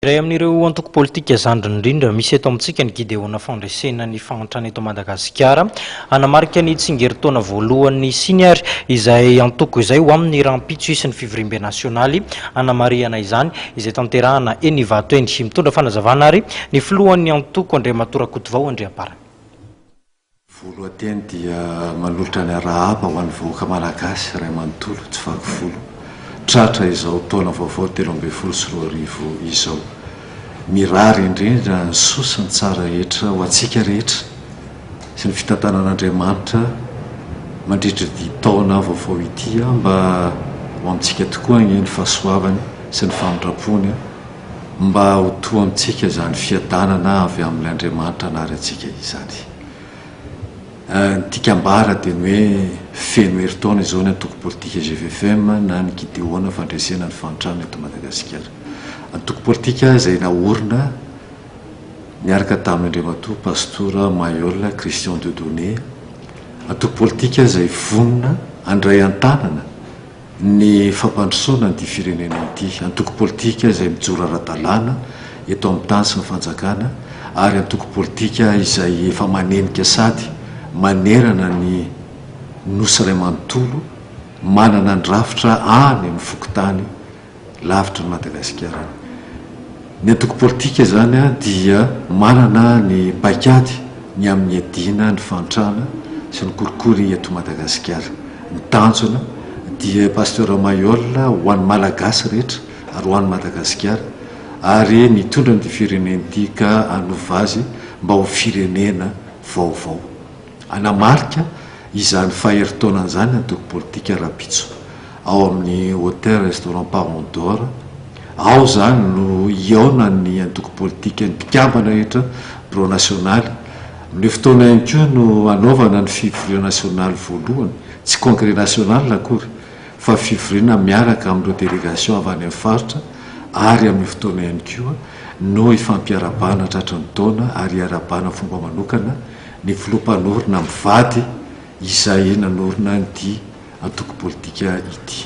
Iray amin'ireo antoko politika zandriny indrindra misy eto amintsika ny Gideona Fandresena ny Fahantrana eto Madagasikara. Hanamarika ny tsingerin-taona voalohany ny hisiany ary izay antoko izay ho aminy rahampitso hisy ny fivoriambe nasionaly hanamarihana izany izay tanterahana eny Ivato eny. Mitondra fanazavana ary ny filohan'ny antoko Andriamatoa Rakotovao Andriamparany. Voalohan-teny dia manolotra ny arahaba ho an'ny vahoaka Malagasy iray manontolo tsy vaky volo tratra izao taona vaovao telo ambin'ny folo sy roa arivo izao. Mirary indrindra ny soa sy ny tsara rehetra ho antsika rehetra sy ny fitantanan'Andriamanitra mandritra ity taona vaovao ity mba ho amintsika tokoa anie ny fahasoavany sy ny famindrampony mba ho toa amintsika izany fiadanana avy amin' Andriamanitra hanary antsika izany. Ny Tikambara dia ny hoe feno herintaona izao ny antoko politika GVFM na ny Gideona fandresena ny fahantrana eto Madagasikara. Antoko politika izay naorina niaraka tamin' Andriamatoa Pastora Mailhol Christian Dieudonné, antoko politika izay vonona handray an-tanana ny fampandrosoana an'ity firenena ity, antoko politika izay mijoro ara-dalàna eto amin'ny tany sy ny fanjakana ary antoko politika izay efa manenika sady manerana ny Nosy iray manontolo, manana ny rafitra any amin'ny fokontany. Lavitry ny Madagasikara. Ny antoko politika izany dia manana ny paikady ny amin'ny hiadiana ny fahantrana sy ny kolikoly eto Madagasikara. Ny tanjona dia Pasteur Maillol ho an'ny Malagasy rehetra ary ho an'i Madagasikara ary ny hitondra an'ity firenena ity ka hanova azy mba ho firenena vaovao. Hanamarika izany faherintaonany izany ny antoko politika rahampitso ao amin'ny Hotel Restaurant Palme d'Or. Ao izany no hihaonan'ny antoko politika ny mpikambana rehetra birao nasionaly. Amin'io fotoana io ihany koa no hanaovana ny fivoriana nasionaly voalohany, tsy congrès national akory fa fivoriana miaraka amin'ireo délégation avy any amin'ny faritra ary amin'io fotoana ihany koa no hifampiarahabana tratry ny taona ary hiarahabana fomba manokana ny filoha mpanorina mivady izay nanorina an'ity antoko politika ity.